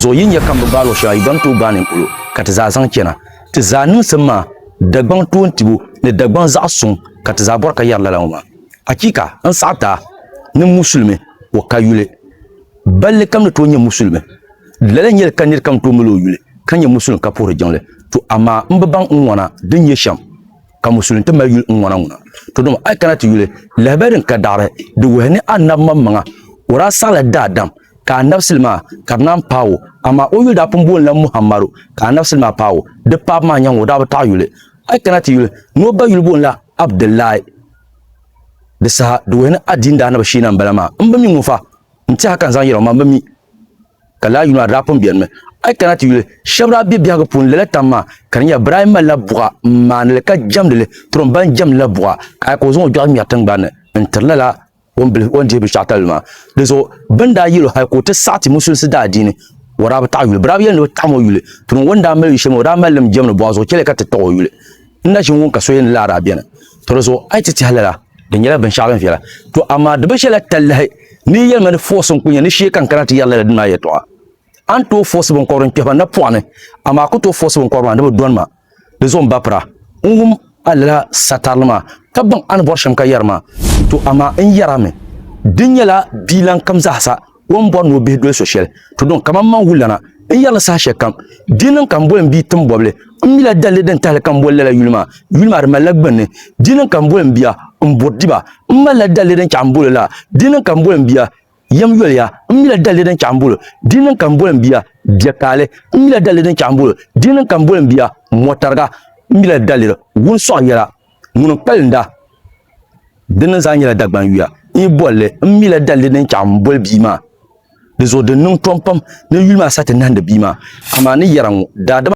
Zuɣu yi nya ka m bi gbaai luɣ shɛŋa yi gba ni tooi gbaai ni n polo ka ti zaa zaŋ chana. Ti zaa niŋsim maa, Dagbaŋ toontibu ni Dagbaŋ zaɣ suŋ ka ti zaa bɔri ka yɛri lala ŋɔ maa. Achiika! N saɣi daa ni Musulimi o ka yuli. Balli kam ni tooi nyɛ Musulimi. Di lala nyɛli ka nir kam tooi mali o yuli ka nyɛ Musulin ka puhiri jiŋli. To amaa m bi baŋ n ŋɔna din nyɛ shɛm ka Musulin ti mali yuli n ŋɔna ŋuna. To dama a yi kana ti yuli lahabaya din ka daɣiri di wuhi ni Annabi maŋmaŋa o daa saɣila daadam ka a nabisili maa ka di naan paai o, amaa o yuli daa pun boonila Muhammadu, ka a nabisili maa paai o, di paab maa nyaŋ o daa bi taɣi yuli, a yi kana ti yuli ni o ba yuli boonila Abdillahi, di saha di wuhi ni a diin daa ni bi sheena m-bala maa, m bi mi ŋun fa n-ti ha ka n zaŋ yɛl o maa, m bi mi, ka lala yuli maa di daa pun benimi, a yi kana ti yuli shɛba daa be biɛhigu puuni lala tam maa, ka di nyɛla bɛ daa yi malila buɣa m-maani li ka jɛmdi li, tiri o m ba n jɛmdila buɣa, ka a yɛli ka o zaŋ o dɔɣi ŋmɛri tiŋgbani ni n-tiri lala o ni dihi binshɛɣu talili maa di zuɣu bin daa yɛlo hali ka o ti saɣi ti musulisi daa diini o daa bi taɣi yuli bi daa bi yɛli ni bi taɣim o yuli tuni ŋɔ ni daa mali shɛm o daa mali lim jɛmni bɔɣu zuɣu chɛli ka ti taɣi o yuli n na ʒini ŋun ka so yɛn laa daa bɛni to di zuɣu a yi ti tiɛhi lala di nyɛla binshɛɣu din viɛla to amaa di bi ʒɛla talahi ni yi yɛlima ni fɔɔsi n ku nyɛ ni shee ka n kana ti yɛri lala dini maa yɛtɔɣa a ni tooi fɔɔsi binkɔbiri n kpɛhi ba napɔɣu ni amaa a ku tooi fɔɔsi binkɔbiri maa ni bi dɔni ma Di zuɣu m-bapira n-wum a lala satarili maa, ka baŋ a ni bɔri shɛm ka yɛri ma. To amaa n yɛr a mi, di nyɛla bia lan kam zaasa o ni bɔri ni o bihi doli so shɛli. To dɔŋ kaman man wulana n yɛr li saha shɛli kam, di niŋ ka m boli m bia tim bɔbili. M mila dalili din tahili ka m boli lala yuli maa, yuli maa di malila gbunni. Di niŋ ka m boli m bia m buri diba, m malila dalili din chɛɣi m bol o la, di niŋ ka m boli m bia. Yɛm yoliya, m mila dalili din chaɣ m-bol o, di ni ka m bol m bia bia kaali. M mila dalili din chaɣ m-bol o, di ni ka m bol m bia mɔtariga. M mila dalili wun sɔɣ yɛla, ŋuni n-kpalinda? Di ni zaa nyɛla Dagbaŋ yuya. N yi bol li, m mila dalili din chaɣ m-bol bia maa. Di zuɣu di niŋ tom pam ni yuli maa sa ti nahindi bia maa, amaa ni yɛra ŋɔ, daadama.